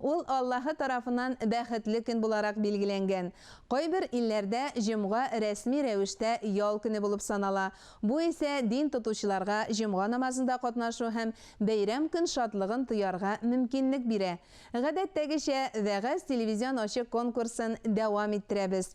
Ул Аллаһы тарафыннан бәхетле көн буларак билгеләнгән. Кайбер илләрдә җомга рәсми рәвештә ял көне булып санала, бу исә дин тотучыларга җомга намазында катнашу һәм бәйрәм көн шатлыгын тоярга мөмкинлек бирә. Гадәттәгечә, вәгазь телевизион ачык конкурсын дәвам иттерәбез.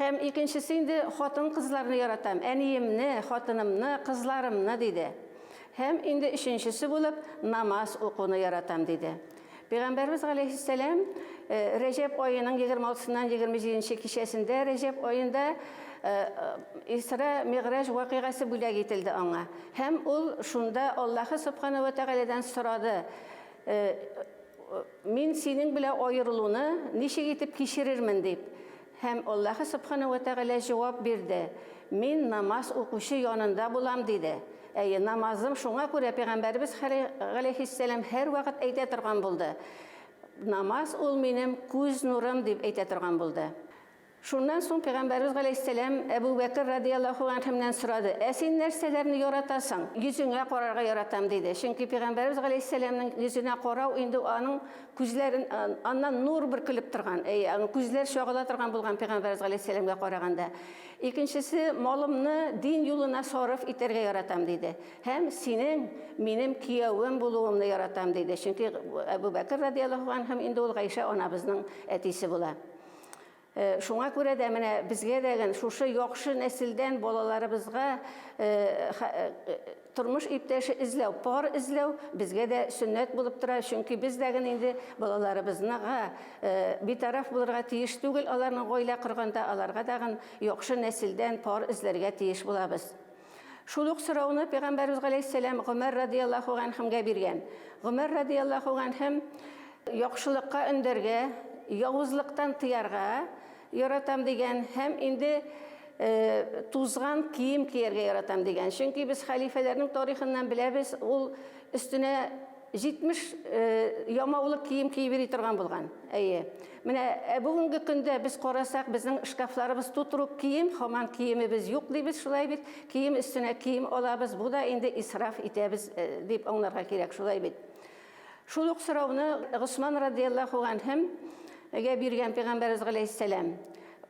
Һәм икенчесе инде хатын-кызларны яратам, әниемне, хатынымны, кызларымны, диде. Һәм инде өченчесе булып намаз укуны яратам, диде. Пәйгамбәребез галәйһиссәлам Рәҗәб аеның егерме алтысыннан егерме җиденче кичәсендә Рәҗәб аенда Исра Мигъраҗ вакыйгасы бүләк ителде аңа. Һәм ул шунда Аллаһы Собхана вә Тәгаләдән сорады, Мин синең белән аерылуны ничек итеп кичерермен? дип. Һәм Аллаһы Сөбхана вә Тәгалә җавап бирде, Мин намаз укучы янында булам, диде. Әйе, намазым, шуңа күрә пәйгамбәребез хәле галәйһиссәлам һәрвакыт әйтә торган булды, Намаз ул минем күз нурым, дип әйтә торган булды. Шуннан соң пәйгамбәребез галәйһиссәлам Әбү Бәкер радияллаһу әнһүннән сорады, Ә син нәрсәләрне яратасың? Йөзеңә карарга яратам, диде. Чөнки пәйгамбәребез галәйһиссәламнең йөзенә карау инде аның Күзләрен аннан нур бөркелеп торган, әйе, аны күзләр чагыла торган булган пәйгамбәрбез галәйһиссәламгә караганда. Икенчесе, малымны дин юлына сарыф итәргә яратам, диде. Һәм синең минем кияүем булуыңны яратам, диде. Чөнки Әбү Бәкер радияллаһу анһум инде ул Гайшә анабызның әтисе була. Шуңа күрә дә менә безгә дә гын шушы яхшы нәселдән балаларыбызга тормыш иптәше эзләү, пар эзләү безгә дә сөннәт булып тора, чөнки без дә гын инде балаларыбызныга битараф булырга тиеш түгел, аларның гаилә корганда аларга да гын яхшы нәселдән пар эзләргә тиеш булабыз. Шул ук сорауны пәйгамбәрбез галәйһиссәлам Гомәр радияллаһу ганһемгә биргән. Гомәр радияллаһу ганһем яхшылыкка өндәргә, явызлыктан тыярга яратам дигән һәм инде тузган кием кияргә яратам дигән. Чөнки без хәлифәләрнең тарихыннан беләбез, ул өстенә 70 ямаулы кием киеп йөри торган булган. Әйе. Менә ә бүгенге көндә без карасак, безнең шкафларыбыз тутырук кием, хаман киемебез юк дибез шулай бит. Кием өстенә кием алабыз. Бу да инде исраф итәбез дип аңларга кирәк шулай бит. Шул ук сорауны Госман радияллаху ганһем гә биргән пәйгамбәребез галәйһиссәлам.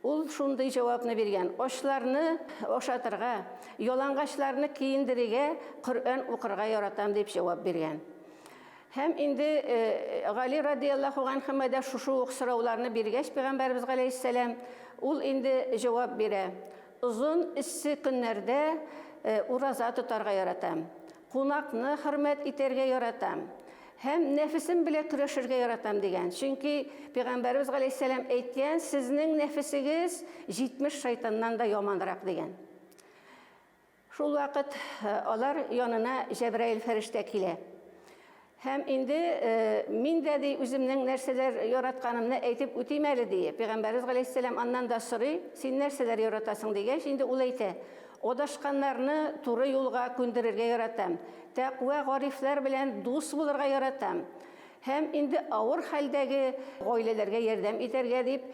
Ул шундый җавапны биргән, Ачларны ашатырга, ялангачларны киендерергә, Коръән укырга яратам, дип җавап биргән. Һәм инде Гали радияллаху анхыма да шушы ук сорауларны биргәч, пәйгамбәребез галәйһиссәлам, ул инде җавап бирә, Озын эссе көннәрдә ураза тотарга яратам, кунакны хөрмәт итәргә яратам, Һәм нәфесем белә көрәшергә яратам, дигән. Чөнки Пәйгамбәребез галәйһиссәлам әйткән, Сезнең нәфесегез 70 шайтаннан да яманрак, дигән. Шул вакыт алар янына Җәбраил фәрештә килә. Һәм инде мин дә ди үземнең нәрсәләр яратканымны әйтеп үтим әле, ди. Пәйгамбәребез галәйһиссәлам аннан да сорый, Син нәрсәләр яратасың, дигәч, инде ул әйтә, Адашканнарны туры юлга күндерергә яратам. Тәкъва гарифләр белән дус булырга яратам. Һәм инде авыр хәлдәге гаиләләргә ярдәм итәргә, дип,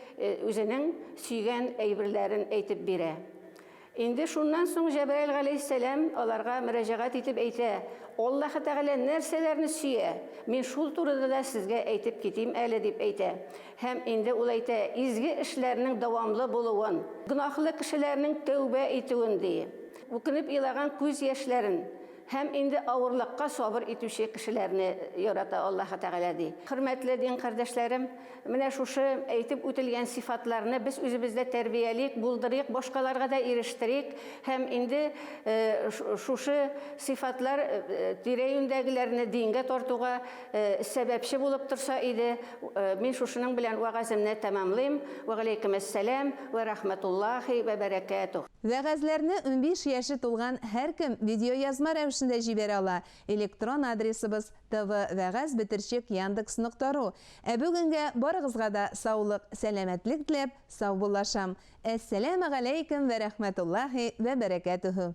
үзенең сөйгән әйберләрен әйтеп бирә. Инде шуннан соң Җәбраил галәйһиссәлам аларга мөрәҗәгать итеп әйтә, Аллаһы Тәгалә нәрсәләрне сөя, мин шул турыда да сезгә әйтеп китим әле, дип әйтә. Һәм инде ул әйтә, изге эшләрнең дәвамлы булуын, гөнаһлы кешеләрнең тәүбә итүен, ди, үкенеп елаган күз яшьләрен, һәм инде авырлыкка сабыр итүче кешеләрне ярата Аллаһы Тәгалә, ди. Хөрмәтле дин кардәшләрем, менә шушы әйтеп үтелгән сыйфатларны без үзебездә тәрбиялик, булдырыйк, башкаларга да ирештерик, һәм инде шушы сыйфатлар тирә-юньдәгеләрне дингә тартуга, Сәбәпче булып торса иде. Мин шушының белән вәгаземне тәмамлыйм. Вә галәйкем әссәлам вә рәхмәтуллаһи вә бәрәкәтүһ. Вәгазьләрне унбиш яше тулган һәркем видеоязма рәвешендә җибәрә ала, электрон адресыбыз, tv вәгазь бетерчек яндекс нокта ру Ә бүгенгә барыгызга да саулык, сәламәтлек теләп, саубуллашам. Әссәләмә галәйкем вә рәхмәтуллаһи вә бәрәкәтүһ.